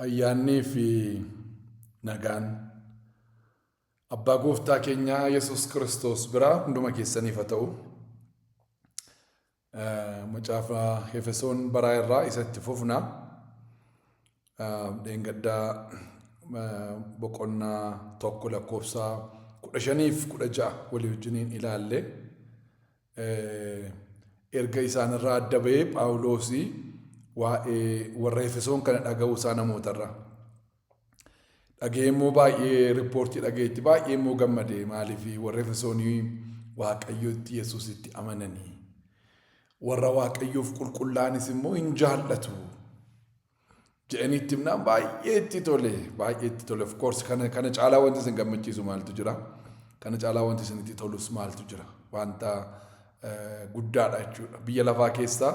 Ayyaannii fi nagaan abbaa gooftaa keenyaa Yesuus Kiristoos biraa hunduma keessaniif haa ta'u. Macaafa Efesoon baraa irraa isa itti fufna. Dheengaddaa boqonnaa tokko lakkoofsa kudha shaniif kudha ja'a walii wajjiniin ilaalle. Erga isaanirraa adda ba'ee Phaawulos waa'ee warra Efesoon kana dhaga'uu isaa namootarraa. Dhaga'ee immoo baay'ee riippoortii dhaga'eetti baay'ee immoo gammade maaliif warra Efesoonii Waaqayyotti Yesuusitti amananii warra Waaqayyoof qulqullaa'anis immoo hin jaallatu. jedhanii itti himnaan baay'ee itti tole baay'ee itti tole of course kana kana caalaa wanti isin gammachiisu maaltu jira kana caalaa wanti isin itti tolus maaltu jira wanta eh, guddaadha jechuudha biyya lafaa keessaa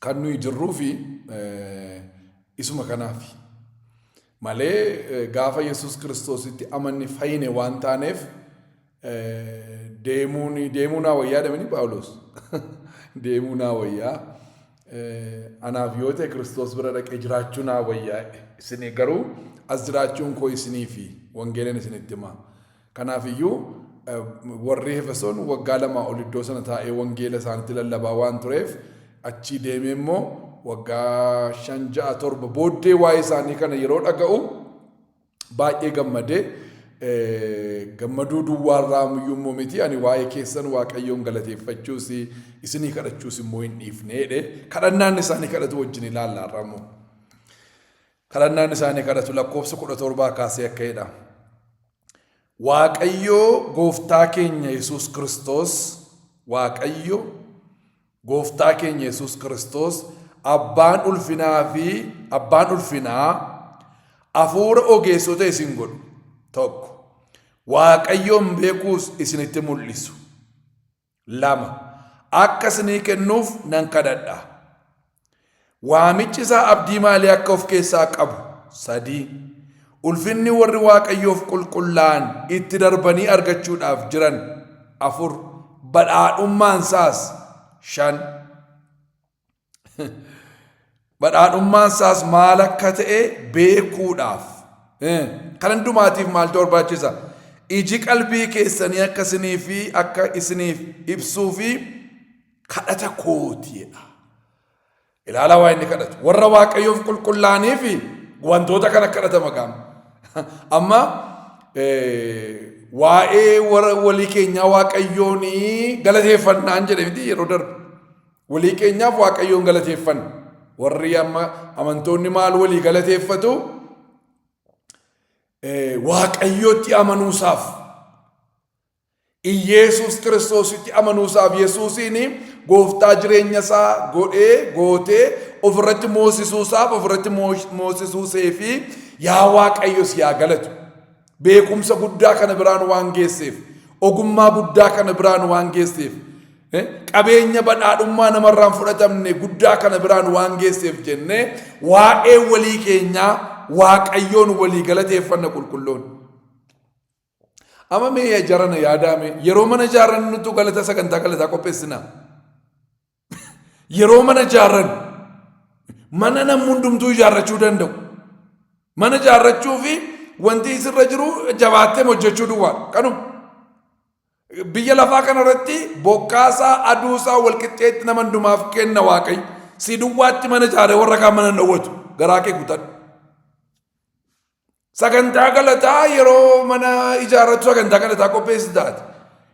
kan nuyi jirruu fi eh, isuma kanaafi. malee gaafa Yesuus Kiristoositti amanne fayyine waan taaneef deemuun deemuu naa wayyaa dhamini Phaawulos deemuu naa wayyaa anaaf yoo ta'e Kiristoos bira dhaqee jiraachuu naa wayyaa isin garuu as jiraachuun koo isiniifi wangeelan isinitti himaa. Kanaaf iyyuu, warri Efesoon waggaa lamaa ol iddoo sana taa'ee wangeela isaanitti lallabaa waan tureef, achii deemee immoo waggaa shan, ja'a, torba booddee waa'ee isaanii kana yeroo dhaga'u baay'ee gammade. Gammaduu duwwaa irraa iyyuu immoo miti, ani waa'ee keessan Waaqayyoon galateeffachuus isinii kadhachuus immoo hin dhiifne jedhe. Kadhannaan isaanii kadhatu wajjin ilaalla har'a immoo. Kadhannaan isaanii kadhatu lakkoofsa kudha torbaa kaasee akka jedha. Waaqayyoo gooftaa keenya Yesuus Kiristoos Waaqayyo gooftaa keenya Yesuus Kiristoos abbaan ulfinaa fi abbaan ulfinaa hafuura ogeessota isin godhu tokko waaqayyoon beekuus isinitti mul'isu lama akka isinii kennuuf nan kadhadha. Waamichi isaa abdii maalii akka of keessaa qabu? sadii Ulfinni warri Waaqayyoof qulqullaa'an itti darbanii argachuudhaaf jiran afur Badhaadhummaan isaas shan Badhaadhummaan isaas maal akka ta'e beekuudhaaf. Kan hundumaatiif maaltu barbaachisa? Iji qalbii keessanii akka isinii fi akka isiniif ibsuu fi kadhata kootiidha. Ilaalaa waa inni kadhatu. Warra waaqayyoof qulqullaa'anii fi wantoota kana kadhata maqaan. Amma waa'ee warra walii keenyaa waaqayyoon galateeffannaan jedhe miti yeroo darbe. Walii keenyaaf Waaqayyoon galateeffanna. Warri amma amantoonni maal walii galateeffatu? Waaqayyootti amanuusaaf. Iyeesuus kiristoositti amanuusaaf Yesuusiin gooftaa jireenya isaa godhee gootee ofirratti moosisuusaaf ofirratti moosisuusee fi yaa Waaqayyo si yaa galatu. beekumsa guddaa kana biraan waan geesseef ogummaa guddaa kana biraan waan geesseef eh, qabeenya badhaadhummaa namarraan fudhatamne guddaa kana biraan waan geesseef jennee waa'ee walii keenyaa waaqayyoon walii galateeffanna qulqulloon. Amma mee jarana yaadaame yeroo mana jaarannutu galata sagantaa galataa qopheessinaa. Yeroo mana ijaarran mana namni hundumtuu ijaarrachuu danda'u. Mana ijaarrachuu fi wanti isirra jiru jabaattee hojjechuu duwwaadha. Kanuma. Biyya lafaa kanarratti bokkaasaa aduusaa walqixxeetti nama hundumaaf kenna waaqayyo. Si duwwaatti mana ijaaree warra kaan mana hin dhowwatu. Garaa kee guutan. Sagantaa galataa yeroo mana ijaarrattu sagantaa galataa qopheessitaati.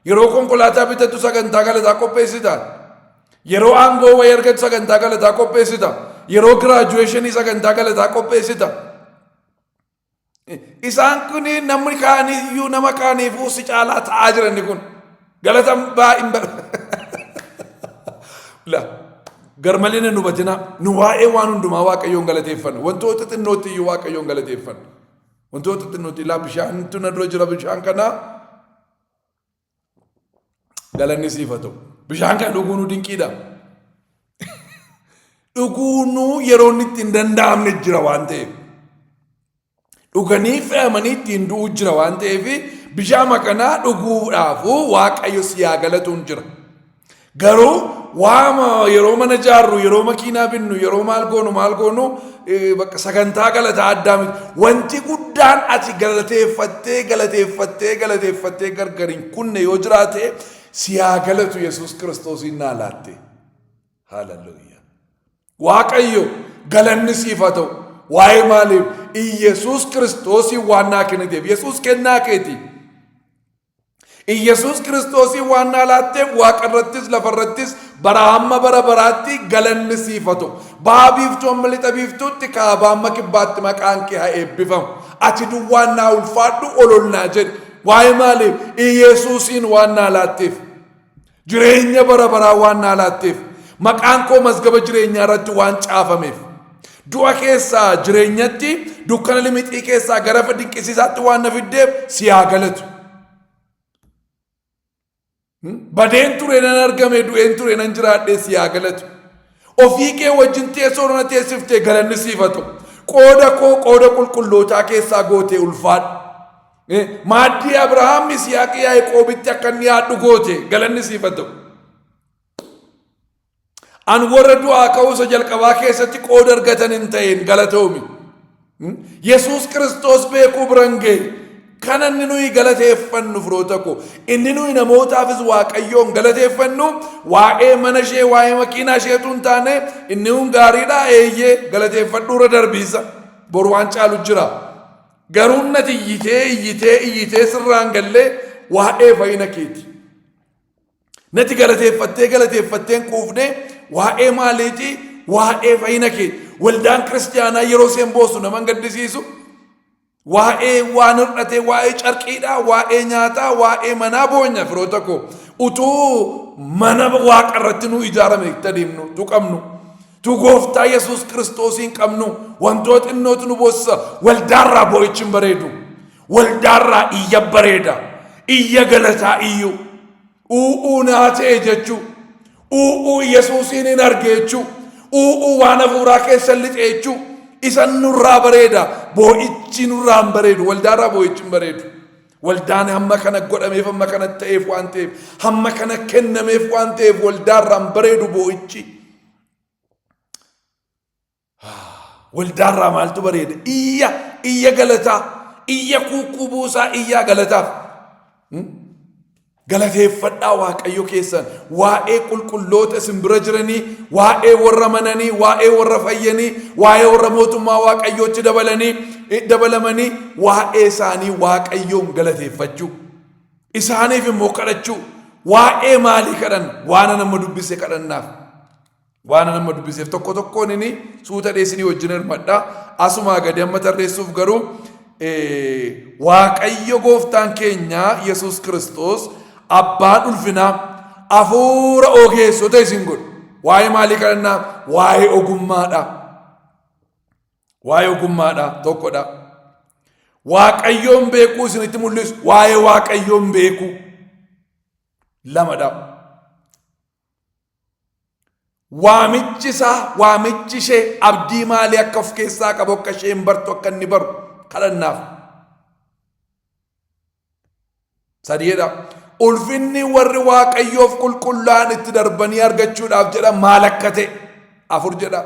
Yeroo konkolaataa bitattu sagantaa galataa qopheessitaati. Yeroo aangoo wayii argattu sagantaa galataa qopheessita. Yeroo giraajuweeshinii sagantaa galataa qopheessita. Isaan kun namni kaaniyyuu nama kaaniifuu si caalaa ta'aa jiran kun. Galata baa hin bar. La garmalee na hubatina nu waa'ee waan hundumaa waaqayyoon galateeffanna wantoota xinnootti iyyuu waaqayyoon galateeffanna wantoota xinnootti ilaa bishaantu na dura jira bishaan kanaa galanni siif haa ta'u bishaan kana dhuguu nu dinqiidha dhuguu nu yeroo inni itti hin danda'amne jira waan ta'eef dhuganii fe'amanii ittiin du'uu jira waan ta'eef bishaama kanaa dhuguudhaafuu waaqayyo si haa galatuun jira. Garuu waama yeroo mana jaarru yeroo makiinaa binnu yeroo maal goonu maal goonu eh, bakka sagantaa galataa addaa miti. Wanti guddaan ati galateeffattee galateeffattee galateeffattee gargar hin kunne yoo jiraate si haa galatu Yesuus Kiristoosiin naa laatte. Haaleluyyaa. Waaqayyo galanni siif haa ta'u. Waa'ee maaliif? Iyyasuus Kiristoosiin waan naa kenniteef. Yesuus kennaa keeti. Iyyasuus Kiristoosiin waan naa laatteef waaqa irrattis lafa irrattis bara hamma bara baraatti galanni siif haa ta'u. Baha biiftuu amma lixa biiftuutti kaabaa amma kibbaatti maqaan kee haa eebbifamu. Ati duwwaan naa ulfaadhu ol ol naa jedhi. Waa'ee maaliif? Iyyasuusiin waan naa laatteef. Jireenya bara baraa waan naa laatteef, maqaan koo mazgaba jireenyaa irratti waan caafameef, du'a keessaa jireenyatti, dukkana limixii keessaa gara ifa dinqisiisaatti waan na fiddeef si haa galatu. Badeen ture nan argame, du'een ture nan jiraadhe si haa galatu. Ofii kee wajjin teessoo na teessiftee galanni siif haa ta'u. Qooda koo qooda qulqullootaa keessaa gootee ulfaadhu. Maaddii Abrahaam Yisihaaqii Yaaqoobitti akka inni yaaddu goote galanni siif haa ta'u. An warra du'aa ka'uusa jalqabaa keessatti qooda argatan hin ta'een galatoomi. Yesuus Kiristoos beekuu biran ga'e kan inni nuyi galateeffannu firoota koo inni nuyi namootaafis waaqayyoon galateeffannu waa'ee mana ishee waa'ee makiinaa isheetu hin taane inni kun gaariidha eeyyee galateeffadhuurra darbiisa boru waan caalu jira. Garuu nati iyyitee iyyitee iyyitee sirraan gallee waa'ee fayyina keeti. Nati galateeffattee galateeffatteen quufnee waa'ee maaliiti waa'ee fayyina keeti. Waldaan kiristaanaa yeroo isheen boosu nama hin gaddisiisu. Waa'ee waan hir'atee waa'ee carqiidhaa waa'ee nyaataa waa'ee manaa boonya firoota koo utuu mana waaqa irratti nu ijaarame itti adeemnu utuu qabnu. Tu gooftaa Yesuus Kiristoosiin qabnu wantoo xinnootu nu boossisa. Waldaarraa boo'ichi hin bareedu. Waldaarraa iyya bareeda. Iyya galataa iyyu. U'uu naa ta'e jechuu. U'uu Yesuusiin hin arge jechuu. U'uu waan hafuuraa keessa lixe jechuu. Isan nurraa bareeda. Boo'ichi nurraa hin bareedu. Waldaarraa boo'ichi hin bareedu. Waldaan hamma kana godhameef hamma kana ta'eef waan ta'eef hamma kana kennameef waan ta'eef waldaarraa hin bareedu boo'ichi. Waldaarraa maaltu bareeda? Iyya, iyya galataa, iyya kuukkuu buusaa, iyyaa galataaf. Hmm? Galateeffadhaa Waaqayyo keessan waa'ee qulqulloota isin bira jiranii, waa'ee warra mananii, waa'ee warra fayyanii, waa'ee warra mootummaa Waaqayyootti dabalanii dabalamanii waa'ee isaanii Waaqayyoon galateeffachuu. Isaaniif immoo kadhachuu waa'ee maalii kadhan waana nama dubbise kadhannaaf. Waana nama dubbiseef tokko tokkoon inni suuta dheessinii wajjin hirmadha. Asumaa gadi amma tarreessuuf garuu Waaqayyo gooftaan keenya Yesuus Kiristoos abbaan ulfinaa hafuura ogeessota isin godhu. Waa'ee maalii kadhannaa? Waa'ee ogummaadha. Waa'ee ogummaadha tokkodha. Waaqayyoon beekuu isinitti mul'isu waa'ee waaqayyoon beekuu lamadha. Waamichi isaa waamichi ishee abdii maalii akka of keessaa qabu akka isheen bartu akka inni baru kadhannaaf. Sadiidha. Ulfinni warri waaqayyoof qulqullaa'an itti darbanii argachuudhaaf jedha maal akka ta'e afur jedha.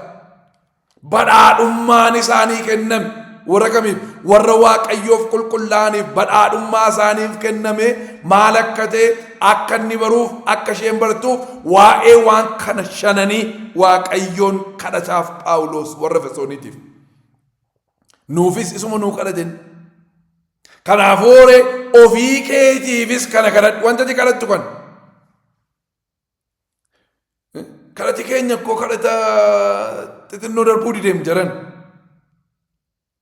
Badhaadhummaan isaanii kenname warra kamiif warra waaqayyoof qulqullaa'aniif badhaadhummaa isaaniif kenname maal akka ta'e akka inni baruuf akka isheen bartuuf waa'ee waan kana shananii waaqayyoon kadhataaf phaawuloos warra fesooniitiif. Nuufis isuma nuu kadha jenna. Kanaafuu horee ofii keetiifis kana kadhadhu wanta ati kadhattu kana. Kadhati keenya koo kadhata xixinnoo darbuu dideem jaran.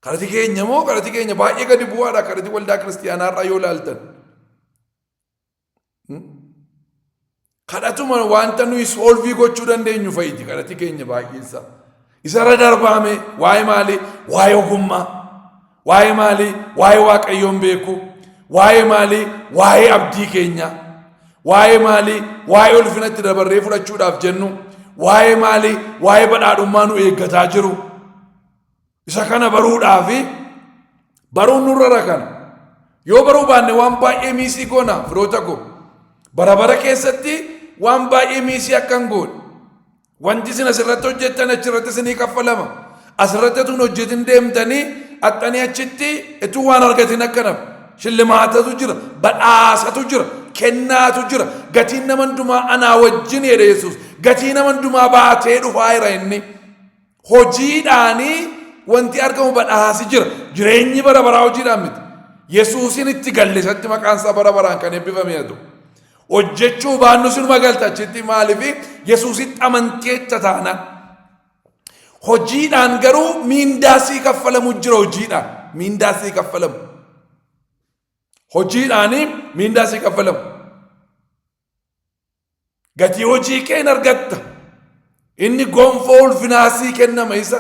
Kadhati keenya moo kadhati keenya baay'ee gadi bu'aadha kadhati waldaa kiristiyaanaarraa yoo ilaaltan. kadhatuma wanta nuyi soolvii gochuu dandeenyu fa'iiti kadhati keenya baay'eessa. Isarra darbaame waa'ee maalii? Waa'ee ogummaa. Waa'ee maalii? Waa'ee waaqayyoon beeku. Waa'ee maalii? Waa'ee abdii keenya. Waa'ee maalii? Waa'ee ulfinatti dabarree fudhachuudhaaf jennu. Waa'ee maalii? Waa'ee badhaadhummaa nu eeggataa jiru. Isa kana baruudhaa fi baruun nurra rakan. Yoo baruu baanne waan baay'ee miisii goona firoota koo. Bara bara keessatti waan baay'ee miisii akkan goone. Wanti isin asirratti hojjettan achirratti isinii kaffalama. Asirratti utuu hin hojjetin deemtanii axxanii achitti utuu waan argatin akkanaaf. Shillimaatatu jira, badhaasatu jira, kennaatu jira. Gatiin nama hundumaa anaa wajjin jedhe Yesuus. Gatii nama hundumaa baatee dhufaa jira inni. Hojiidhaanii wanti argamu badhaasi jira. Jireenyi bara baraa hojiidhaan miti. Yesuusin itti galle isatti maqaan isaa bara baraan kan eebbifame haa ta'u. Hojjechuu baannu sinuma galta achitti maaliif Yesuusitti amantii jecha taanaan. Hojiidhaan garuu miindaa sii kaffalamu jira hojiidhaan. Miindaa sii kaffalamu. Hojiidhaanii miindaa sii kaffalamu. Gatii hojii kee hin argatta. Inni gonfoo ulfinaa sii kennama isa.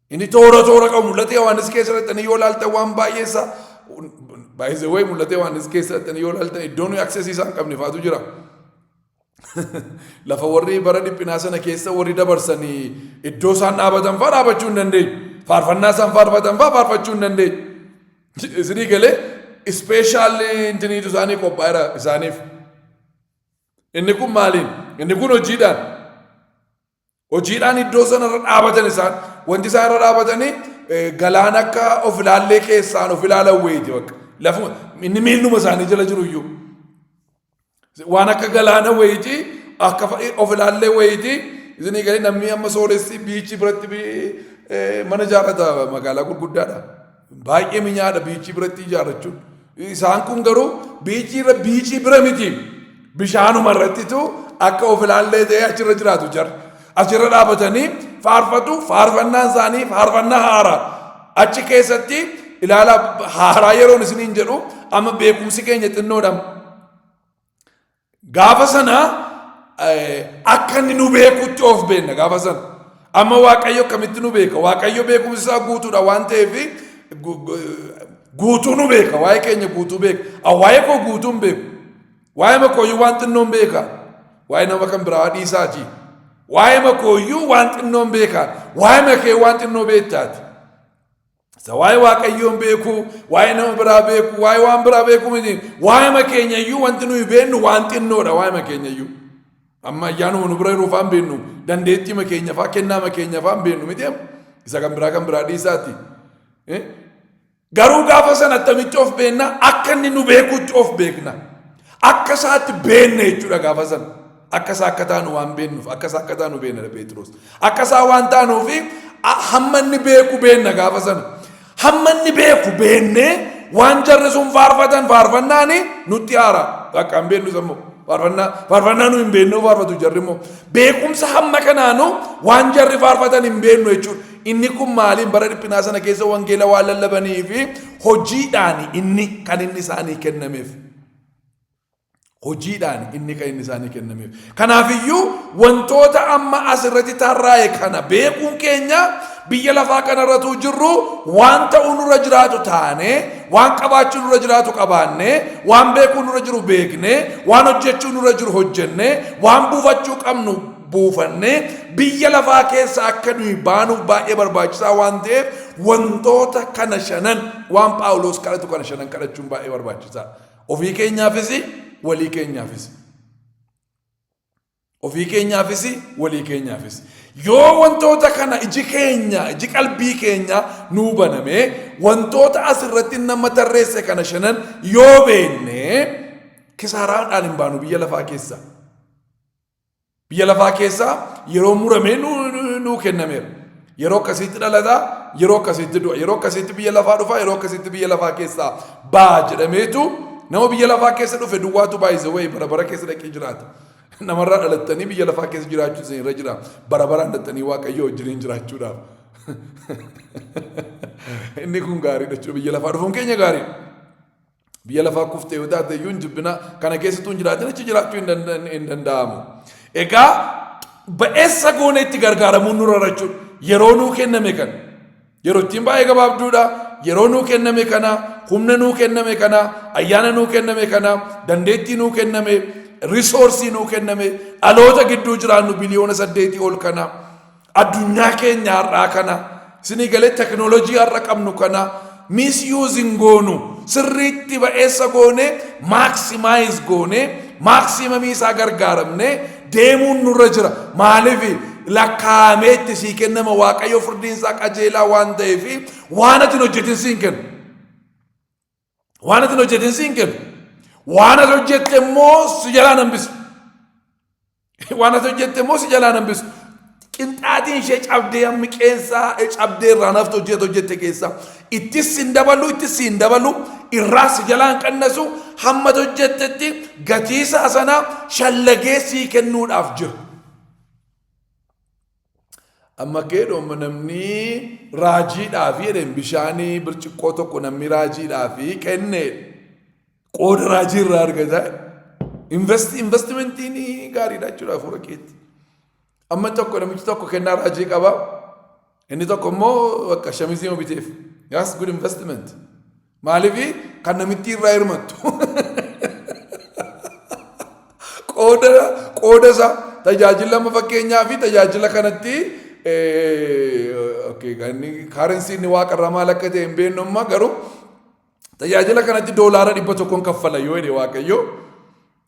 Inni toora toora qabu mul'ata Yohaannis keessa dhaqxanii yoo ilaaltan waan baay'ee isaa baay'ee wayii mul'ata Yohaannis keessa dhaqxanii yoo ilaaltan iddoo nuyi aksesii isaan qabne faatu jira. Lafa warri bara dhiphinaa sana keessa warri dabarsanii iddoo isaan dhaabatan fa'aa dhaabachuu hin dandeenye. Faarfannaa isaan faarfatan fa'aa faarfachuu hin dandeenye. Isinii galee ispeeshaalli intiniitu isaanii qophaa'eera isaaniif. Inni kun maaliin? Inni kun hojiidhaan. Hojiidhaan iddoo sanarra dhaabatan isaan. Wanti isaan irra dhaabatanii eh, galaan akka of ilaallee keessaan of ilaalan wayiiti bakka. Lafuma inni miilluma isaanii jala jiru iyyuu. Waan akka galaana wayiitii akka of ilaallee wayiitii isinii galee namni amma sooressi biichii biratti mana ijaarrata magaalaa gurguddaadha. Baay'ee minyaadha biichii biratti ijaarrachuun. Isaan kun garuu biichii irra biichii bira miti. Bishaanuma irrattitu akka of ilaallee ta'ee achirra jiraatu jira. Achirra dhaabatanii faarfatu faarfannaan isaanii faarfannaa haaraa. Achi keessatti ilaala haaraa yeroon isiniin jedhu amma beekumsi keenya xinnoodha. Gaafa sana akka inni nu beekutti of beenna gaafa sana. Amma Waaqayyo akkamitti nu beeka? Waaqayyo beekumsi isaa guutuudha waan ta'eef guutuu nu beeka. Waa'ee keenya guutuu beeka. Waa'ee koo guutuu hin beeku. Waa'ee makooyyuu waan xinnoo hin beeka. Waa'ee nama kan biraa dhiisaati. Waa'ee makooyyuu waan xinnoo hin beeka. Waa'ee makee waan xinnoo beektaati. Isa waa'ee waaqayyoon beekuu, waa'ee nama biraa beekuu, waa'ee waan biraa beekuu miti. Waa'eema keenya iyyuu wanti nuyi beennu waan xinnoodha waa'eema keenya iyyuu. Amma ayyaanuma nu bira jiru faan beennu, dandeettiima keenya faa, kennaama keenya faan beennu miti. Isa kan biraa kan biraa dhiisaati. Eh? Garuu gaafa sana attamitti of beenna akka inni nu beekutti of beekna. Akka isaatti beenne jechuudha gaafa sana. Akka isaa akka taanu waan beennuuf akka isaa akka taanu beennadha Pheexiroos. Akka isaa waan taanuufi a- hamma inni beeku beenna gaafa sana. Hamma inni beeku beennee waan jarri sun faarfatan faarfannaani nutti haara. Akka hin beennu sammoo. Faarfannaa faarfannaa nu hin beennuu faarfatu jarri immoo. Beekumsa hamma kanaanu waan jarri faarfatan hin beennu jechuudha. Inni kun maaliin bara dhiphinaa sana keessa wangeela waan lallabanii fi hojiidhaani inni kan inni isaanii kennameef. Hojiidhaan inni kan inni isaanii kennameef. Kanaafiyyuu wantoota amma as irratti tarraa'e kana beekuun keenya biyya lafaa kanarratuu jirru waan ta'uu nurra jiraatu taane, waan qabaachuu nurra jiraatu qabaanne, waan beekuu nurra jiru beekne, waan hojjechuu nurra jiru hojjenne, waan buufachuu qabnu buufanne biyya lafaa keessa akka nuyi baanuuf baay'ee barbaachisaa waan ta'eef wantoota kana shanan waan Phaawulos kadhatu kana shanan kadhachuun baay'ee barbaachisaa. Ofii keenyaafis walii keenyaafis. Ofii keenyaafis walii keenyaafis. Yoo wantoota kana iji keenya, iji qalbii keenya nuu banamee wantoota asirratti nama tarreesse kana shanan yoo beenne kisaaraadhaan hin baanu biyya lafaa keessa. Biyya lafaa keessaa yeroo muramee nuu kennameera. Yeroo akkasiitti dhalata, yeroo akkasiitti du'a, yeroo akkasiitti biyya lafaa dhufa, yeroo akkasiitti biyya lafaa keessaa ba'a jedhameetu nama biyya lafaa keessa dhufe duwwaatu baay'ise wayii bara bara keessa dhaqee jiraata. Namarraa dhalattanii biyya lafaa keessa jiraachuu isin irra jira. Bara baraan dhalattanii waaqayyoo wajjiniin jiraachuudhaaf. Inni kun gaariidha jechuudha biyya lafaa dhufuun keenya gaariidha. Biyya lafaa kuftee yoo taate iyyuu hin jibbina. Kana keessattuu hin jiraatin achi jiraachuu hin danda- hin danda'amu. Egaa ba'eessa goonee itti gargaaramuun nurra jira jechuudha. Yeroo nuu kenname kana. Yeroo ittiin baay'ee gabaabduudha. Yeroo nuu kenname kana, humna nuu kenname kana, ayyaana nuu kenname kana, dandeettii nuu kenname, risoorsii nuu kenname, dhaloota gidduu jiraannu biliyoona saddeetii ol kana. Addunyaa keenya har'aa kana isinii galee teknoolojii har'a qabnu kana miisyuuzin goonu sirriitti ba'eessa goonee maaksimaayis goonee maaksiimamii isaa gargaaramnee deemuun nurra jira. Maaliif lakkaa'amee itti sii kennama waaqayyo firdiin isaa qajeelaa waan ta'eef waan ati hin hojjetin siin kenna. Waan ati hin hojjetin si hin kennu. Waan ati hojjette immoo si jalaa hin hambisu. Waan ati hojjette immoo si jalaa hin hambisu. Qinxaatiin ishee cabdee hammi qeensaa cabdee irraa naftu hojjete hojjette keessaa. Ittis si hin dabalu, ittis si hin dabalu, irraa si jalaa hin qannasu, hamma ati hojjettetti gatiisaa sanaa shallagee sii kennuudhaaf jira. Amma keedhoomma namnii raajiidhaafi jedheen bishaanii birciqqoo tokko namni raajiidhaafi kenneedha. Qooda raajii irraa argataa investi investimentiin gaariidha jechuudha hafuura keetti. Amma tokko namichi tokko kennaa raajii qaba. Inni tokko immoo bakka shamizii biteef. That's good investment. Maaliif kan namittii irraa hirmattu. Qooda qooda isaa tajaajila amma fakkeenyaa fi tajaajila kanatti kaarensiin inni waaqa irraa maal akka ta'e hin beeknu amma garuu tajaajila kanatti doolaara dhibba tokkoon kaffala yoo jedhe waaqayyo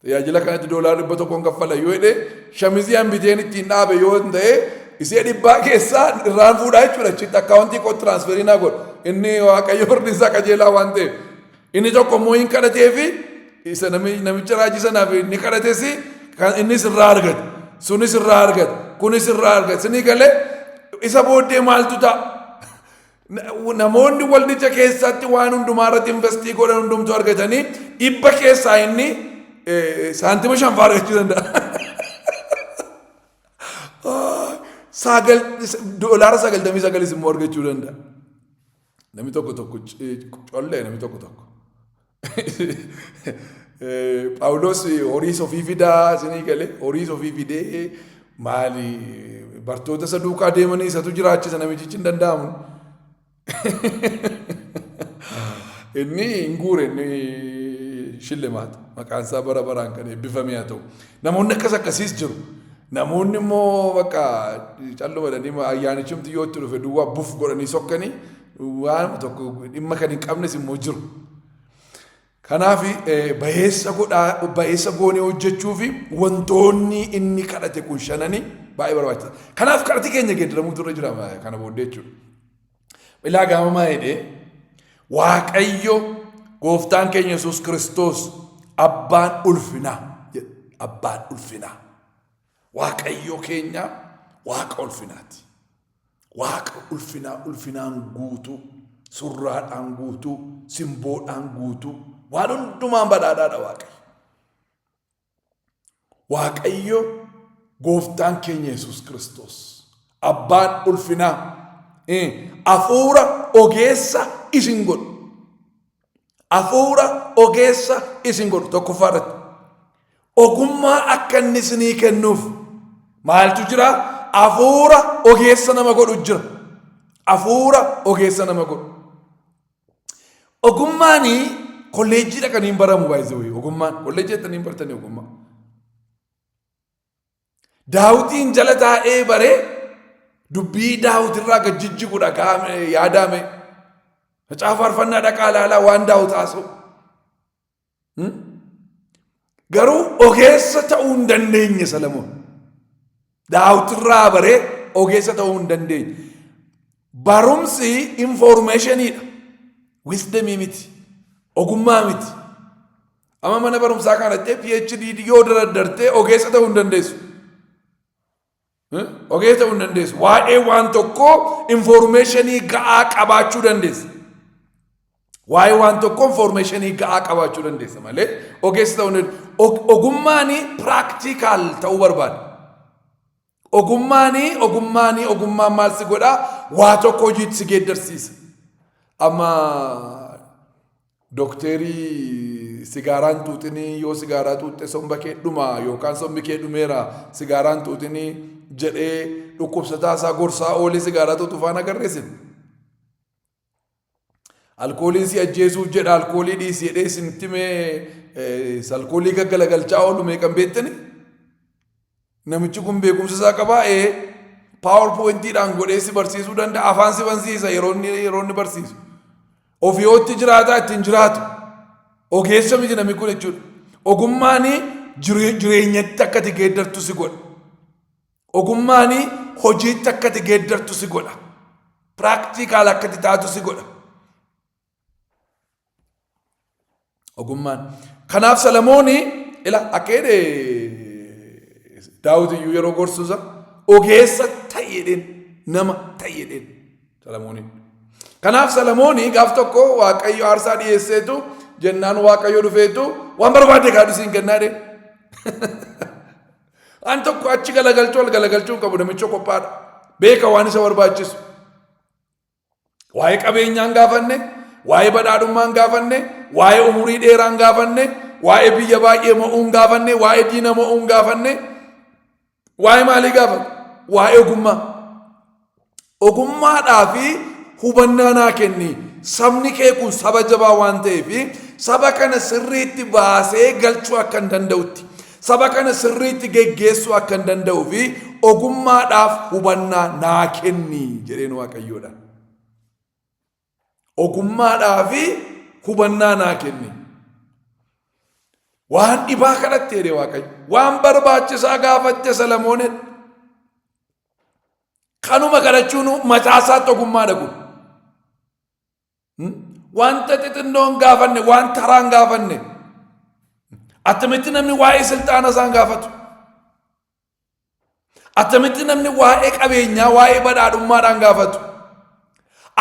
Tajaajila kanatti doolaara dhibba tokkoon kaffala yoo jedhe shamizii an biteen ittiin dhaabe yoo hin ta'e isee dhibbaa keessaa irraan fuudhaa jechuudha achitti akkaawuntii koo tiraansferii naa godhu inni waaqayyo firdi isaa qajeelaa waan ta'eef inni tokko immoo hin kadhatee fi isa nami- namicha raajii sanaaf inni kadhates kan innis irraa argate sunis irraa argate kunis irraa argate sinii galee isa booddee maaltu ta'a Namoonni waldicha keessatti waan hundumaa irratti investii godhan hundumtuu argatanii dhibba keessaa inni saantima shan fa'aa argachuu danda'a. Sagal doolaara sagaltamii sagalis immoo argachuu danda'a. Namni tokko tokko collee namni tokko tokko. Phaawulos horiis ofii fidaa isinii galee horiis ofii fidee maali bartoota isa duukaa deemanii isatu jiraachisa namichichi hin danda'amu. Inni hin guure inni shillimaata maqaan isaa bara baraan kan eebbifame haa ta'u. Namoonni akkas akkasiis jiru. Namoonni immoo bakka calluma jedhanii ayyaanichumti yoo itti dhufe duwwaa buf godhanii sokkanii waanuma tokko dhimma kan hin qabnes immoo jiru. Kanaaf bayeessa godhaa bayeessa goonee hojjechuu fi wantoonni inni kadhate kun shananii baay'ee barbaachisa. Kanaaf kadhati keenya geeddaramuutu irra jira kana booddee jechuudha. Ilaa gaamamaa jedhee Waaqayyo gooftaan keenya Yesuus Kiristoos abbaan ulfinaa jedha. Abbaan ulfinaa. Waaqayyo keenya waaqa ulfinaati. Waaqa ulfinaa ulfinaan guutuu, surraadhaan guutuu, simboodhaan guutuu, waan hundumaan badhaadhaadha Waaqayyo. Waaqayyo gooftaan keenya Yesuus Kiristoos abbaan ulfinaa eh, hafuura ogeessa isin godhu. Hafuura ogeessa isin godhu tokkoffaa irratti. Ogummaa akka inni isinii kennuuf maaltu jira? Hafuura ogeessa nama godhu jira. Hafuura ogeessa nama godhu. Ogummaan kolleejjii dhaqanii hin baramu baay'isee ogummaan kolleejjii dhaqanii hin bartanii ogummaa. Daawitiin jala taa'ee baree dubbii daawitirraa gad jijjigudha gaame yaadaame. Macaafa faarfannaa dhaqaa ilaalaa waan daawit haasa'u. Hmm? Garuu ogeessa ta'uu hin dandeenye Salamoon. Daawitirraa baree ogeessa ta'uu hin dandeenye. Barumsi infoormeeshiniidha. Wisdemii miti. Ogummaa miti. Amma mana barumsaa kana jettee PhD yoo daraddartee ogeessa ta'uu hin dandeessu. Eh? Ogeessa ta'uu hin dandeessu. Waa'ee waan tokkoo infoormeeshinii ga'aa qabaachuu dandeessa. Waa'ee waan tokkoo infoormeeshinii ga'aa qabaachuu dandeessa malee ogeessa ta'uu hin dandeessu. Og- Ogummaan piraaktiikaal ta'uu barbaada. Ogummaanii ogummaanii ogummaan maal si godhaa waa tokko hojiitti si geeddarsiisa. Amma dokteerii sigaaraan xuuxinii yoo sigaaraa xuuxxe somba kee dhuma yookaan sombi kee dhumeera sigaaraan xuuxinii jedhee dhukkubsataa isaa gorsaa oolee sigaaraa xuuxu faana agarreesin. Alkooliin si ajjeesuuf jedha alkoolii dhiisi jedhee isinitti mee alkoolii gaggalagalchaa oolu meeqan beektani? Namichi kun beekumsa isaa qabaa ee paawar pooyintiidhaan godhee si barsiisuu danda'a afaan si bansiisa yeroo inni yeroo inni barsiisu. Ofiyootti jiraataa ittiin jiraatu. Ogeessa miti namni kun jechuudha. Ogummaan jireenyatti akka ati geeddartu si godha. Ogummaanii hojiitti akka ati geeddartu si godha. Piraaktiikaal akka ati taatu si godha. Ogummaan. Kanaaf Salamooni ila akka jedhe Daawit iyyuu yeroo gorsuusa ogeessa ta'i jedheen nama ta'i jedheen Salamooniin. Kanaaf Salamooni gaaf tokko Waaqayyo aarsaa dhiyeesseetu jennaan Waaqayyo dhufeetu waan barbaade kaadhisiin kennaa jedheen. An tokko achi galagalchuu al galagalchuu hin qabu namicha qophaadha. Beeka waan isa barbaachisu. Waa'ee qabeenyaa hin gaafanne, waa'ee badhaadhummaa hin gaafanne, waa'ee umurii dheeraa hin gaafanne, waa'ee biyya baay'ee mo'uu hin gaafanne, waa'ee diina mo'uu hin gaafanne, waa'ee maalii gaafata? Waa'ee ogummaa. Ogummaadhaa fi hubannaa naa kenni. Sabni kee kun saba jabaa waan ta'eef saba kana sirriitti baasee galchuu akkan danda'utti saba kana sirriitti geggeessuu akkan danda'uu fi ogummaadhaaf hubannaa naa kenni jedheen waaqayyoodha. Ogummaadhaa fi hubannaa naa kenni. Waan dhibaa kadhatte jedhe Waaqayyo. Waan barbaachisaa gaafatte Salamoon jedhe. Kanuma kadhachuun mataa isaatti ogummaadha kun. Wanta xixinnoon gaafanne, waan taraan gaafanne. Attamitti namni waa'ee silxaana isaan gaafatu. Attamitti namni waa'ee qabeenyaa, waa'ee badhaadhummaadhaan gaafatu?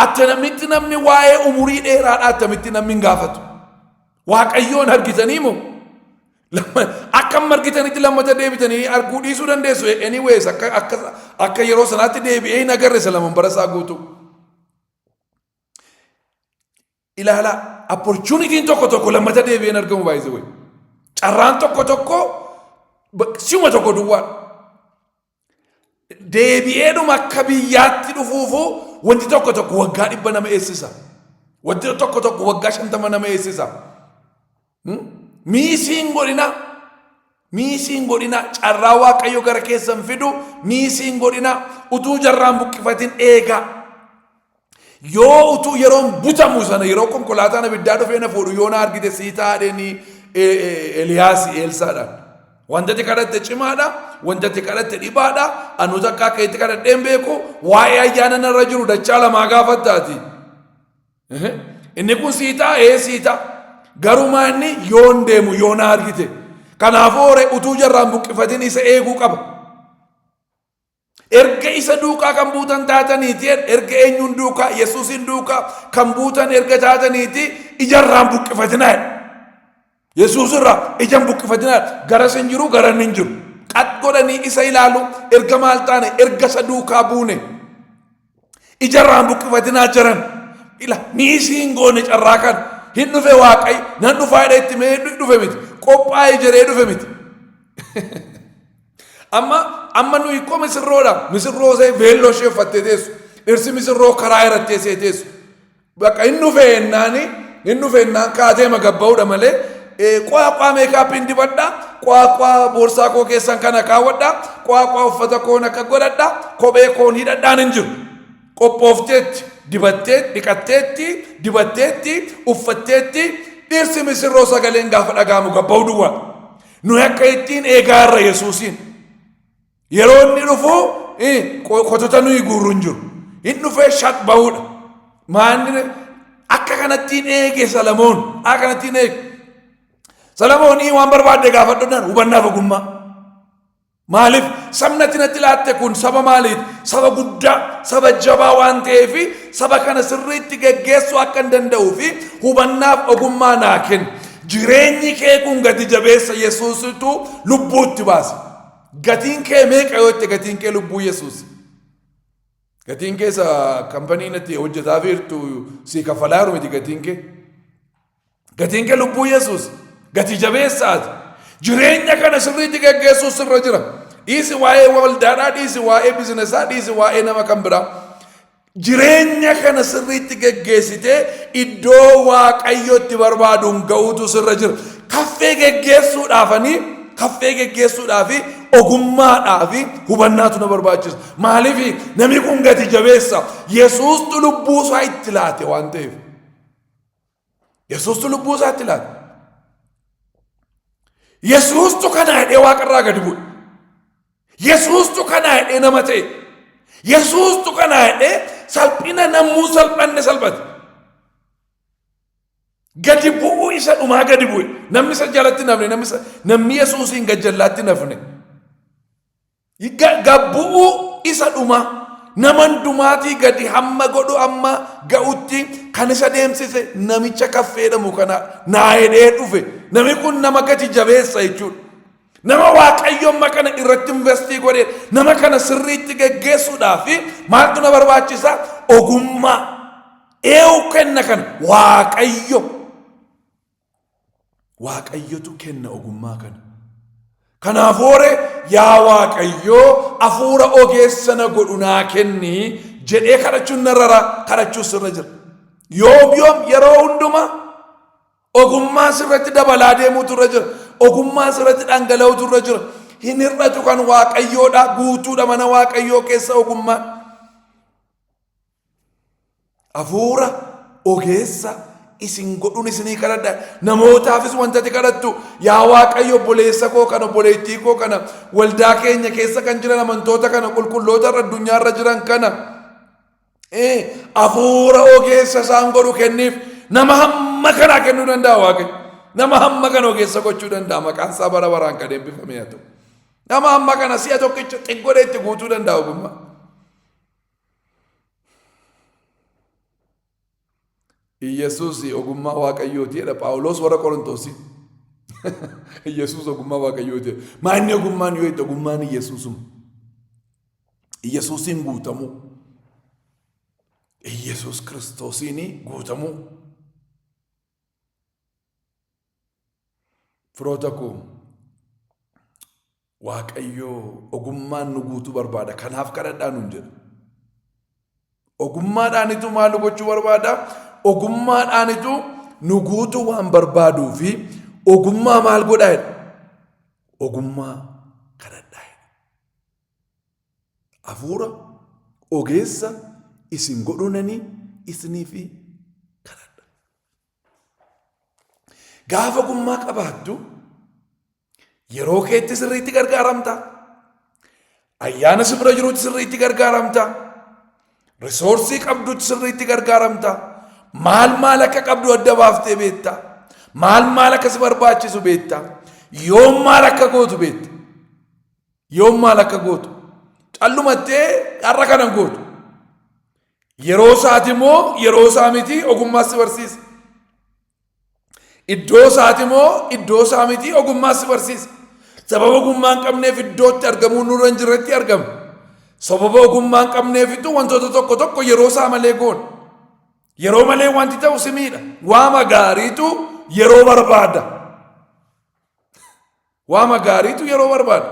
Attamitti namni waa'ee umurii dheeraadhaa attamitti namni hin gaafatu? Waaqayyoon argitanii moo? Lamma- Akka amma argitanitti lammata deebitanii arguu dhiisuu dandeessu. Anyways, akka, akka, akka yeroo sanaatti deebi'ee hin agarre isa laman bara isaa guutuu. Ilaalaa opportunity'n tokko tokko lammata deebi'een argamu by the way. Carraan tokko tokko si'uma tokko duwwaa. Deebi'eedhuma akka biyyaatti dhufuufu wanti tokko tokko waggaa dhibba nama eessisa. Wanti tokko tokko waggaa shantama nama eessisa. Miisiin godhina miisiin godhina carraa waaqayyo gara keessan fidu miisiin godhina utuu jarraan buqqifatin eegaa yoo utuu yeroon butamu sana yeroo konkolaataan abiddaa dhufee na fuudhu yoo na argite sii taadheni Eliyaas Eelsaadhaan. Wantati kadhatte cimaadha, wantati kadhatte dhibaadha, anu takka akka itti kadhadheen beeku waa'ee ayyaana narra jiru dachaa lamaa gaafattaati. Ehe. Inni kun sii ta'a ee sii ta'a. Garumaa inni yoon deemu yoo na argite. Kanaafuu hore utuu jarraan buqqifatin isa eeguu qaba. Erga isa duukaa kan buutan taataniiti erga eenyuun duukaa Yesuusiin duukaa kan buutan erga taataniiti ijarraan buqqifatinaa jedha. Yesuus irraa ija hin buqqifatinaa garas hin jiru garan hin jiru. Qad godhanii isa ilaalu erga maal taane erga isa duukaa buune ijarraa hin buqqifatinaa jiran. Ila miisii hin goone carraa kan hin dhufe waaqayyo nan dhufaa jedhee itti mee dhufe miti qophaa'ee jedhee dhufe miti. Amma amma nuyi koo misirroodha misirroo ishee veelloo ishee uffattee teessu dhirsi misirroo karaa irratti teessee teessu Bakka hin dhufee jennaani hin dhufee jennaan kaatee magabba'uudha malee qwaaqwaa meekaappiin dibadha qwaaqwaa boorsaa koo keessan kana kaawwadha qwaaqwaa uffata koon akka godhadha kophee koon hidhadhaan hin jiru qophoofteetti dibattee dhiqatteetti dibatteetti uffatteetti dhirsi misirroo sagaleen gaafa dhagaamu gabba'u duwwaa nuyi akka ittiin eegaa irra yesuusiin Yeroo inni dhufu kotota nuyi guurru hin jiru. Hin dhufee shaq bahuudha. Maanni akka kanatti hin eege Salamoon. Akka kanatti hin eege. Salamoonii waan barbaadde gaafadhuudhaan hubannaaf ogummaa. Maaliif sabna tinatti laatte kun saba maaliiti? Saba guddaa, saba jabaa waan ta'eef saba kana sirriitti geggeessuu akka hin danda'uu fi hubannaaf ogummaa naa kenna. Jireenyi kee kun gati jabeessa Yesuusitu lubbuutti baasa. Gatiin kee meeqa yoo jette gatiin kee lubbuu Yesuus. Gatiin kee isa kampanii natti hojjetaa feertu si kaffalaa jiru miti gatiin kee. Gatiin kee lubbuu Yesuus. Gatii jabeessaati. Jireenya kana sirriitti geggeessuu sirra jira. Dhiisi waa'ee waldaadhaa, dhiisi waa'ee bizinesaa, dhiisi waa'ee nama kan biraa. Jireenya kana sirriitti geggeessitee iddoo waaqayyo itti barbaaduun ga'uutu sirra jira. Kaffee geggeessuudhaafanii kaffee geggeessuudhaafi ogummaadhaafi hubannaatu na barbaachisa. Maaliif namni kun gati jabeessa Yesuustu lubbuu isaa itti laate waan ta'eef. Yesuustu lubbuu isaatti laata. Yesuustu kana hidhee waaqarraa gadi bu'e. Yesuustu kana hidhee nama ta'e. Yesuustu kana hidhee salphina namuu salphanne salphate. Gadi bu'uu isa dhumaa gadi bu'e. Namni isa jalatti nafne namni isa- namni Yesuusiin gajjallaatti nafne. Gabbu'uu isa dhuma nama hundumaatii gadi hamma godhu amma ga'utti kan isa deemsise namicha kaffeedhamu kana naa hedhee dhufe nami kun nama gati jabeessa jechuudha. Nama waaqayyo amma kana irratti investii godhe nama kana sirriitti geggeessuudhaa fi maaltu na barbaachisa ogummaa eewu kenna kana waaqayyo Waaqayyotu kenna ogummaa kana. Kanaaf hoore yaa Waaqayyoo afuura ogeessa na godhu naa kenni jedhee kadhachuun narra kadhachuus irra jira. Yoom yoom yeroo hundumaa ogummaan sirratti dabalaa deemuutu irra jira. Ogummaan sirratti dhangala'uutu irra jira. Hin hir'atu kan Waaqayyoodha guutuudha mana Waaqayyoo keessa ogummaan. Hafuura ogeessa isin godhuun isinii kadhadha. Namootaafis wanta ati kadhattu yaa Waaqayyo obboleessa koo kana obboleettii koo kana waldaa keenya keessa kan jiran amantoota kana qulqulloota irra addunyaa irra jiran kana ee, hafuura ogeessa isaan godhu kenniif nama hamma kanaa kennuu danda'a Waaqayyo. Nama hamma kana ogeessa gochuu danda'a maqaan isaa bara baraan kan eebbifame haa ta'u. Nama hamma kana si'a tokkicha xiggodhee itti guutuu danda'a ogummaa. Iyyasuus ogummaa waaqayyooti jedha Phaawulos warra Qorontoosii. Iyyasuus ogummaa waaqayyooti jedha. Maa inni ogummaan yoo itti ogummaan Iyyasuusuma. Iyyasuusiin guutamuu. Iyyasuus kiristoosiin guutamuu. Firoota koo Waaqayyo ogummaan nu guutuu barbaada. Kanaaf kadhadhaa nuun jedha. Ogummaadhaanitu maal nu gochuu barbaada? Ogummaadhaanitu nu guutuu waan barbaaduu fi ogummaa maal godhaa jedha? Ogummaa kadhadhaa jedha. Hafuura ogeessa isin godhuunanii isiniif kadhadha. Gaafa ogummaa qabaattu Yeroo keetti sirriitti gargaaramta. Ayyaana si bira jirutti sirriitti gargaaramta. Risoorsii qabdutti sirriitti gargaaramta. Maal maal akka qabdu adda baaftee beekta. Maal maal akka si barbaachisu beekta. Yoom maal akka gootu beekta. Yoom maal akka gootu. Callumattee har'a kana gootu. Yeroo isaati immoo yeroo isaa miti ogummaas si barsiisa. Iddoo isaati moo iddoo isaa miti ogummaa si barsiisa. Sababa ogummaa hin qabneef iddootti argamuu nurra hin jirretti argama. Sababa ogummaa hin qabneefittu wantoota tokko tokko yeroo isaa malee goona. Yeroo malee wanti ta'u si miidha. Waama gaariitu yeroo barbaada. Waama gaariitu yeroo barbaada.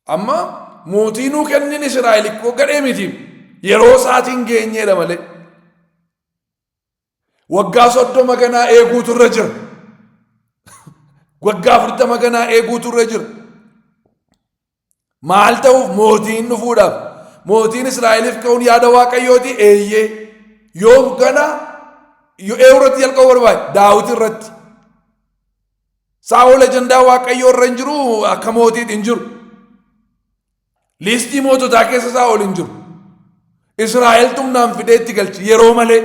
Amma mootii nuu kennin Israa'el ikkoo gadhee miti. Yeroo isaatiin geenyeedha malee. Waggaa soddoma ganaa eeguutu irra jira. Waggaa afurtama ganaa eeguutu irra jira. Maal ta'uuf mootiin dhufuudhaaf mootiin Israa'eliif ka'uun yaada waaqayyooti eeyyee yoom ganaa yoo eewu irratti jalqabu barbaade daawwiti irratti. Saa'ol ajandaa waaqayyoo irra hin jiru akka mootiitti hin jiru. Liistii moototaa keessa isaa ol hin jiru. Israa'el xumnaan fidee itti galchi yeroo malee.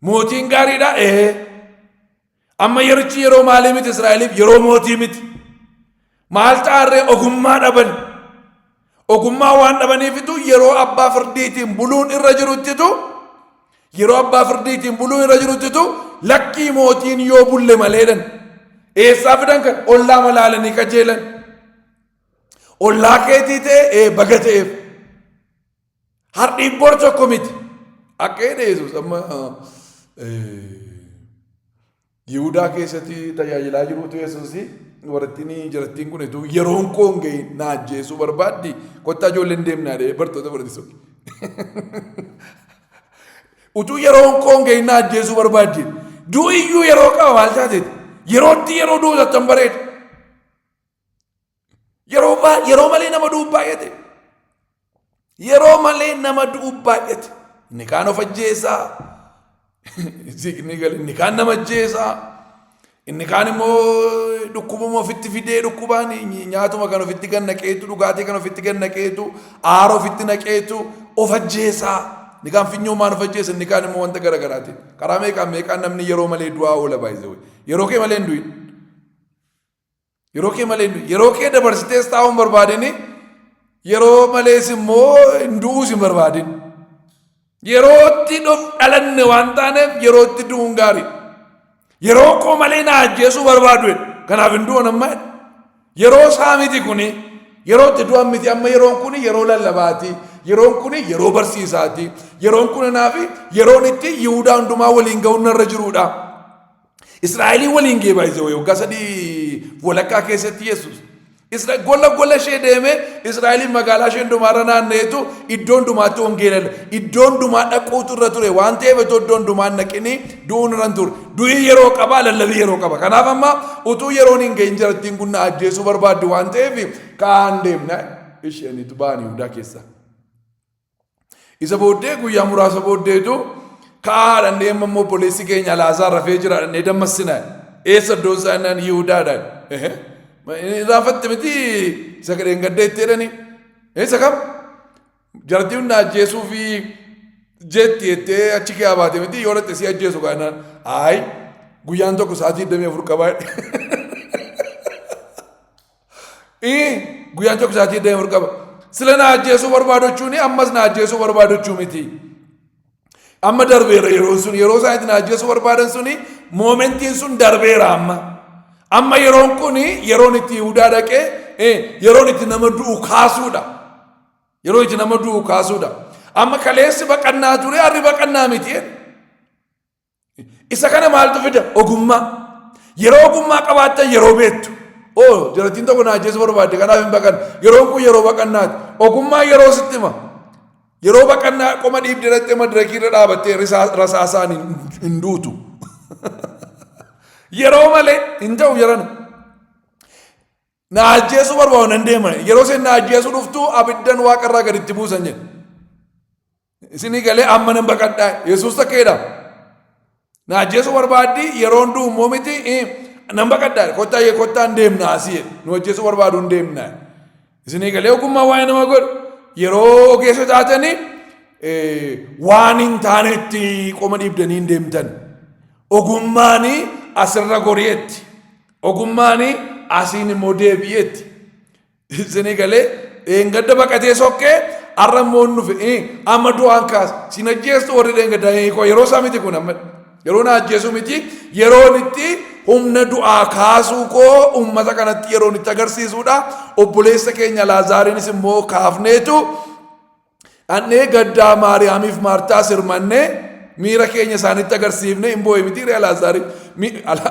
Mootiin gaariidha ee. Amma yerichi yeroo maalii miti Israa'eliif yeroo mootii miti. Maal ta'arree ogummaa dhaban. Ogummaa waan dhabaniifitu yeroo abbaa firdiitiin buluun irra jiruttitu yeroo abbaa firdiitiin buluun irra jiruttitu lakkii mootiin yoo bulle maleedhan. Eessaa fidan kan ollaa malaalanii qajeelan. Ollaa keetii ta'e ee baga ta'eef. Hardhiin bor tokko miti. Akka jedhe Yesuus amma Yihudaa keessatti tajaajilaa jirutu Yesuus warattiin jirattiin kun etuu yeroon koon ga'e na ajjeesuu barbaaddi kottaa ijoolleen deemnaa dhee bartoota barsiisuu. Utuu yeroon koon ga'e na ajjeesuu barbaaddi. Du'iyyuu yeroo qaba maal taateeti? Yerootti yeroo du'u tattan bareeda. Yeroo baa- yeroo malee nama du'u baay'ate. Yeroo malee nama du'u baay'ate. Inni kaan of ajjeesaa. Inni gal- inni kaan nama ajjeesaa. Inni kaan immoo dhukkubuma ofitti fidee dhukkubaan ny- nyaatuma kan ofitti gad naqeetu dhugaatii kan ofitti gad naqeetu aara ofitti naqeetu of ajjeesaa. Inni kaan finyoomaan of ajjeesa inni kaan immoo wanta garaagaraatiin. Karaa meeqaan meeqaan namni yeroo malee du'aa oola baay'isee. Yeroo kee malee hin du'in. Yeroo kee malee hin yeroo kee dabarsitees taa'uu hin barbaadini yeroo malees immoo hin du'uus hin barbaadin. Yerootti dhalanne waan taaneef yerootti du'uun gaarii. Yeroo koo malee na ajjeesuu barbaadu kanaaf hin du'an amma yeroo isaa miti kuni yeroo itti du'an miti amma yeroon kuni yeroo lallabaati yeroon kuni yeroo barsiisaati yeroon kun kanaaf yeroon itti yihudaa hundumaa waliin ga'uun narra jiruudha. Israa'elii waliin gee baay'ise wayii waggaa sadii walakkaa keessatti Yesuus. Isra gola gola ishee deemee Israa'eliin magaalaa ishee hundumaarra naanna'eetu iddoo hundumaatti wangeela iddoo hundumaa dhaquutu irra ture waan ta'eef iddoo iddoo hundumaa naqinii du'uun irra hin ture. Du'i yeroo qaba lallabii yeroo qaba. Kanaaf amma utuu yeroon hin ga'in jarattiin kun na ajjeesuu barbaaddi waan ta'eef ka'aan deemna isheen itti ba'an Yihudaa keessaa. Isa booddee guyyaa muraasa booddeetu ka'aa haadhannee amma immoo obboleessi keenya laasaa rafee jira dhannee dammassina. Eessa iddoon isaa innaan Yihudaadha. Raafatte miti isa gadheen gadda itti jedhani. Isa kam? Jartii hunda ajjeesuu fi jeetti jettee achi kee baate miti yoo dhatte si ajjeesu kaanaan. Ayi guyyaan tokko sa'aatii 24 qabaa. Ii guyyaan tokko isaatii deemur qaba. Sila na ajjeesuu barbaadochuuni ammas na ajjeesuu barbaadochuu miti. Amma darbeera yeroon sun yeroo isaan itti na ajjeesuu barbaadan suni moomentiin sun darbeera amma. Amma yeroon kun yeroon itti Yihudaa dhaqee eh, yeroon itti nama du'u kaasuudha. Yeroo itti nama du'u kaasuudha. Amma kaleessi baqannaa ture harri baqannaa miti. Isa kana maaltu fida? Ogummaa. Yeroo ogummaa qabaattan yeroo beektu. Oo jarattiin tokko na ajjeesuu barbaadde kanaaf hin baqanne. Yeroon kun yeroo baqannaati. Ogummaa yeroo sitti hima. Yeroo baqannaa qoma dhiibdee dhattee madirakii irra dhaabattee rasaasaan hin duutu. Yeroo malee hin ta'u jarana. Na ajjeesuu barbaadu nan deema. Yeroo isheen na ajjeesuu dhuftu abiddan waaqarraa gaditti buusan jedhe. Isinii galee amma nan baqadhaa Yesuus takkeedha. Na ajjeesuu barbaaddi yeroo hunduu immoo miti nan baqadhaa kottaa yee kottaa hin deemna asii jedhe nu ajjeesuu barbaadu hin deemna. Isinii galee ogummaa waa'ee nama godhu yeroo ogeessa taatanii waan hin taanetti qoma dhiibdanii hin deemtan. Ogummaan asirra gori'etti. Ogummaan asiin immoo deebi'etti. Isinii galee dheengadda baqatee sokkee har'a immoo hin dhufe eh, amma du'aan kaasa sin ajjeestu warri dheengaddaa eh, koo yeroo isaa miti kun amma yeroo na ajjeesuu miti yeroon itti humna du'aa kaasuu koo uummata kanatti yeroon itti agarsiisuudha obboleessa keenya laazaariinis immoo kaafneetu Dhannee gaddaa Maariyaamiif Maartaa sirmannee miira keenya isaanitti agarsiifne hin boo'e miti Alaazaari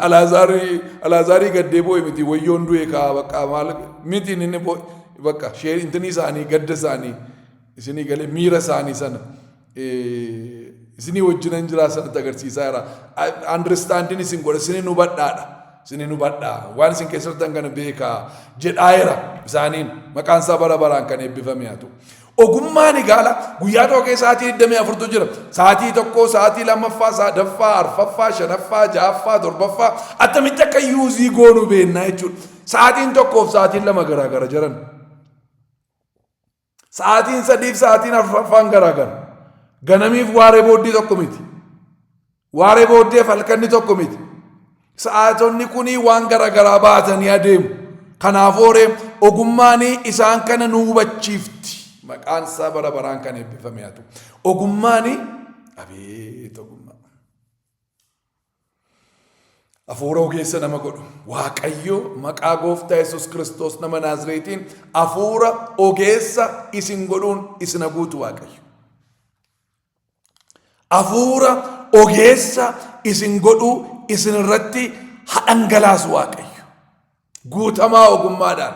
Alaazaari Alaazaarii gaddee boo'e miti wayyoon du'e kaa bakka maal miti inni boo'e bakka shee intinii isaanii gadda isaanii isinii galee miira isaanii sana isinii wajjinan jiraa sanatti agarsiisaa jira. Understanding isin godha isinin hubadhaadha. Isin hin hubadha, waan isin keessa jirtan kana beeka jedhaayera isaaniin maqaan isaa bara baraan kan eebbifame haa ta'u. Ogummaan egaala guyyaa tokko keessa sa'aatii 24tu jira. Sa'aatii tokko, sa'aatii lammaffaa, sadaffaa, arfaffaa, shanaffaa, ja'affaa, torbaffaa attamitti akka yuuzii goonu beennaa jechuudha. Sa'aatiin tokkoof sa'aatiin lama garaagara jiran. Sa'aatiin sadiif sa'aatiin afraffaan garaagara. Ganamiif waaree booddee tokko miti. Waaree booddeef halkanni tokko miti. Sa'aatonni kunii waan garaagaraa baatanii adeemu. Kanaafuu horee ogummaan isaan kana nu hubachiifti. Maqaan isaa bara baraan kan eebbifame haa ta'u. Ogummaan abeet ogummaa. Afuura ogeessa nama godhu. Waaqayyo maqaa gooftaa Yesus Kiristoos nama Naazreetiin afuura ogeessa isin godhuun isin haguutu Waaqayyo. Afuura ogeessa isin godhuu isin irratti hadhangalaasu Waaqayyo. Guutamaa ogummaadhaan,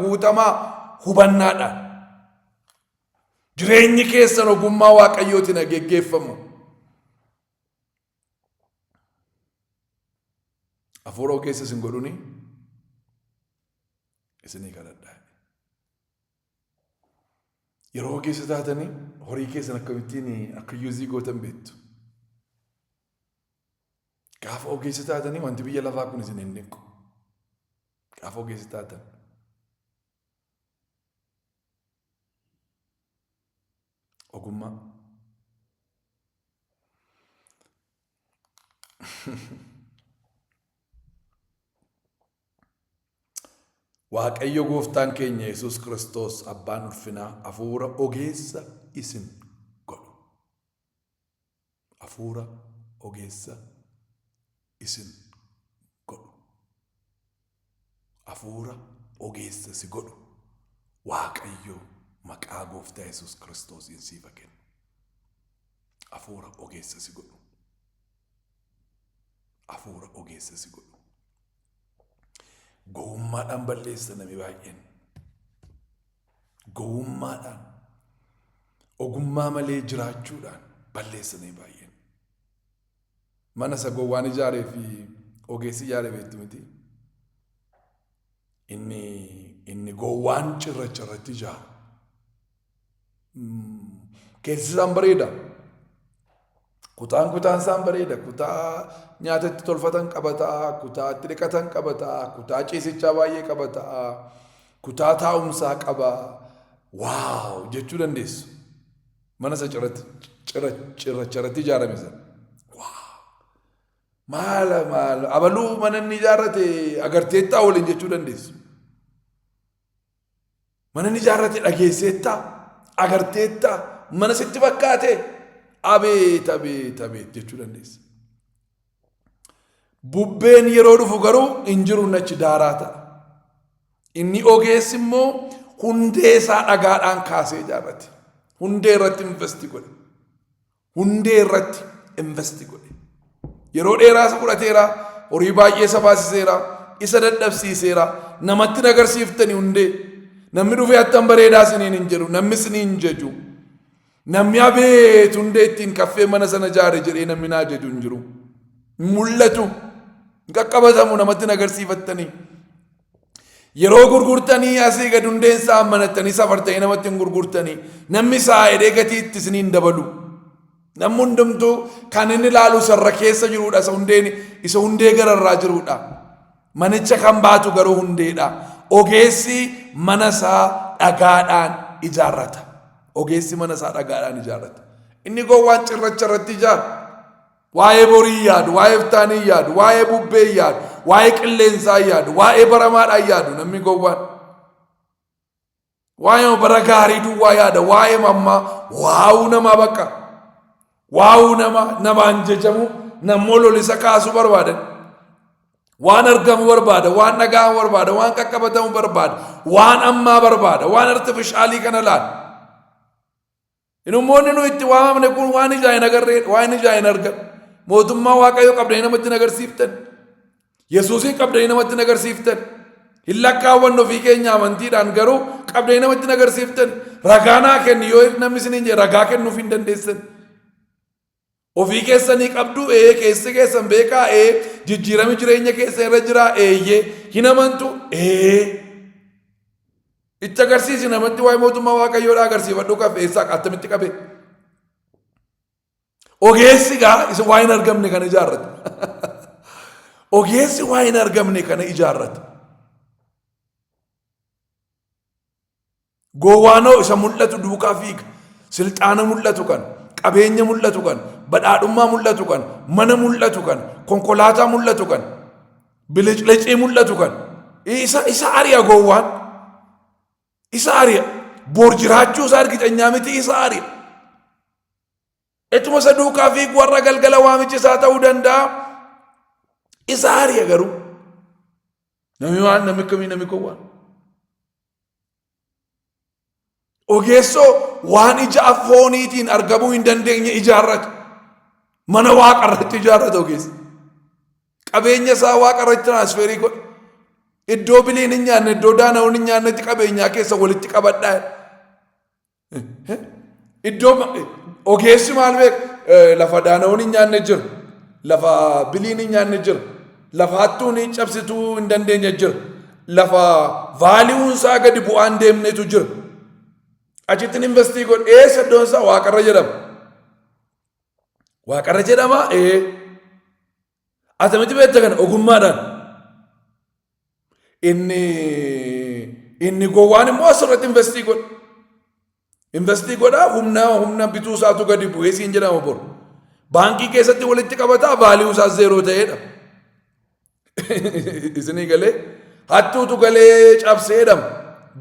guutamaa hubannaadhaan. Jireenyi keessan ogummaa Waaqayyootiin geggeeffamu. Afuura keessa isin godhuni isinii kadhadhaa. Yeroo keessa taatanii horii keessan akkamittiin akka yuuzii gootan beektu. Gaafa ogeessa taatanii wanti biyya lafaa kun isin hin dhiqu. Gaafa ogeessa taatan. Ogummaa. Waaqayyo gooftaan keenya Yesuus Kiristoos abbaan ulfinaa hafuura ogeessa isin godhu. Afuura ogeessa isin godhu. Afuura ogeessa si godhu. Waaqayyo maqaa gooftaa Yesuus Kiristoosiin siif haa kennu. Afuura ogeessa si godhu. Afuura ogeessa si godhu. Gowwummaadhaan balleessa namni baay'een. gowwummaadhaan, ogummaa malee jiraachuudhaan balleessamee baay'een. Mana isa gowwaan ijaaree fi ogeessi ijaare beektu miti. Inni inni gowwaan cirracha irratti ijaaru. Keessi isaan bareeda. Kutaan kutaan isaan bareeda. Kutaa nyaata itti tolfatan qaba ta'a. Kutaa itti dhiqatan qaba ta'a. Kutaa ciisichaa baay'ee qaba ta'a. Kutaa taa'umsaa qaba. Waaw jechuu dandeessu. Mana isa cirracha irratti ijaarame sana. Maala maala abaluu mana inni ijaarrate agarteettaa waliin jechuu dandeessu. Mana ni ijaarrate dhageesseettaa? Agarteettaa? Mana sitti fakkaate? Abeet abeet abeet jechuu dandeessa. Bubbeen yeroo dhufu garuu hin jiru nachi daaraa ta'a. Inni ogeessi immoo hundee isaa dhagaadhaan kaasee ijaarrate. Hundee irratti investi godhe. hundee irratti investi godhe. Yeroo dheeraa isa fudhateera, horii baay'ee isa baasiseera, isa dadhabsiiseera, namatti hin agarsiiftani hundee. Namni dhufee attan bareedaa isiniin hin jedhu, namni isin hin jaju. Namni abeet hundee ittiin kaffee mana sana jaare jedhee namni naa jaju hin jiru. Hin mul'atu. Hin qaqqabatamu namatti hin agarsiifattanii. Yeroo gurgurtanii asii gad hundeen isaa ammanattanii safartanii namatti hin gurgurtanii namni isaa hidhee gatii itti isinii hin dabalu. Namni hundumtuu kan inni ilaalu sarra keessa jirudha isa hundeen isa hundee gararraa jirudha. Manicha kan baatu garuu hundeedha. Ogeessi mana isaa dhagaadhaan ijaarrata. Ogeessi mana isaa dhagaadhaan ijaarrata. Inni gowwaan cirracha irratti ijaara. Waa'ee borii yaadu, waa'ee iftaanii yaadu, waa'ee bubbee yaadu, waa'ee qilleensaa yaadu, waa'ee baramaadhaa yaadu namni gowwaan. Waa'ee bara gaarii duwwaa yaada, waa'ee mammaa, waa'uu namaa bakka. Waa'uu nama, namaan jejamu, nammoo lolisa kaasuu barbaadan. Waan argamu barbaada, waan dhaga'amu barbaada, waan qaqqabatamu barbaada, waan ammaa barbaada, waan artifishaalii kana laala. Inummoonni nu itti waamamne kun waan ijaa hin agarree waan ijaa hin argan. Mootummaa Waaqayyoo qabdanii namatti hin agarsiiftan. Yesuusiin qabdanii namatti hin agarsiiftan. Hin lakkaawwan ofii keenya amantiidhaan garuu qabdanii namatti hin agarsiiftan. Ragaa naa kenni yoo namni isiniin jedhe ragaa kennuuf hin dandeessan. Ofii keessanii qabduu? Ee. Keessi keessan beekaa? Ee. Jijjiirami jireenya keessa irra jiraa? Eeyyee. Hin amantu? Ee. Itti agarsiisi namatti waa'ee mootummaa waaqayyoodhaa agarsiifadhu qabe eessaa attamitti qabe. Ogeessi gaa isa waa hin argamne kana ijaarrata. Ogeessi waa hin argamne kana ijaarrata. Gowwaanoo isa mul'atu duukaa fiiga. Silxaana mul'atu kan, qabeenya mul'atu kan, badhaadhummaa mul'atu kan, mana mul'atu kan, konkolaataa mul'atu kan, biliclicii mul'atu kan. Isa, isa ari'a gowwaan. Isa ari'a. Bor jiraachuu isaa argitanyaa miti isa ari'a. Etuma isa duukaa fiigu warra galgala waamichi isaa ta'uu danda'a. Isa ari'a garuu. Namni waan namni akkamii namni gowwaan. Ogeessoo waan ija fooniitiin argamuu hin dandeenye ijaarratu. Mana waaqa irratti ijaarratu ogeessa. Qabeenya isaa waaqa irratti tiraasferii godha. Iddoo biliin hin nyaanne, iddoo daana'uun hin nyaannetti qabeenyaa keessa walitti qabadhaa. Iddoo ma- ogeessi maal beeku Eh, lafa daana'uun hin nyaanne jira. Lafa biliin hin nyaanne jira. Lafa hattuun hin cabsituu hin dandeenye jira. Lafa vaaliiwuun isaa gadi bu'aan deemnetu jira. Achittiin investii godhe eessa iddoon isaa waaqarra jedhama. Waaqarra jedhama ee. Atamitti beekta kana ogummaadhaan. Inni inni gowwaan immoo asirratti investii godha. Investii godha humna humna bituu isaatu gadi bu'ee siin jedhama bor. Baankii keessatti walitti qabataa vaaliyuu isaa zeeroo ta'eedha. Isinii galee hattuutu galee cabsee jedhama.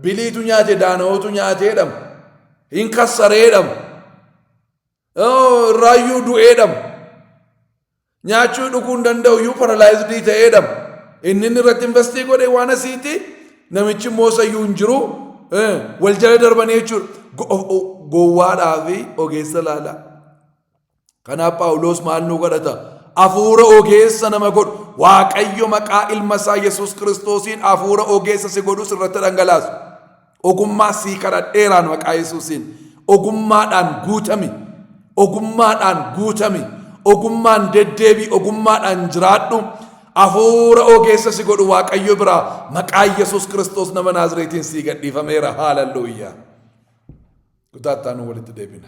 Biliitu nyaate daana'ootu nyaatee jedhama. Hin kassaree jedhama. irraayyuu du'ee dhabu nyaachuu dhuguu hin danda'u iyyuu paralaayizdii ta'ee dhabu inni inni irratti investii godhe waan asiiti namichi immoo sayyuu hin jiru wal jala darbanii jechuudha gowwaadhaa fi ogeessa laalaa kanaaf paawuloos maal nu godhata hafuura ogeessa nama godhu waaqayyo maqaa ilma isaa yesus kiristoosiin hafuura ogeessa si godhus irratti dhangalaasu Ogummaa sii kadhadheeraan maqaa Yesuusiin. Ogummaadhaan guutami. Ogummaadhaan guutami. Ogummaan deddeebii ogummaadhaan jiraadhu. Afuura ogeessa si godhu Waaqayyo biraa maqaa Yesuus Kiristoos nama Naazireetiin sii gadhiifameera. Haalalluuyyaa. Kutaattaa nu walitti deebina.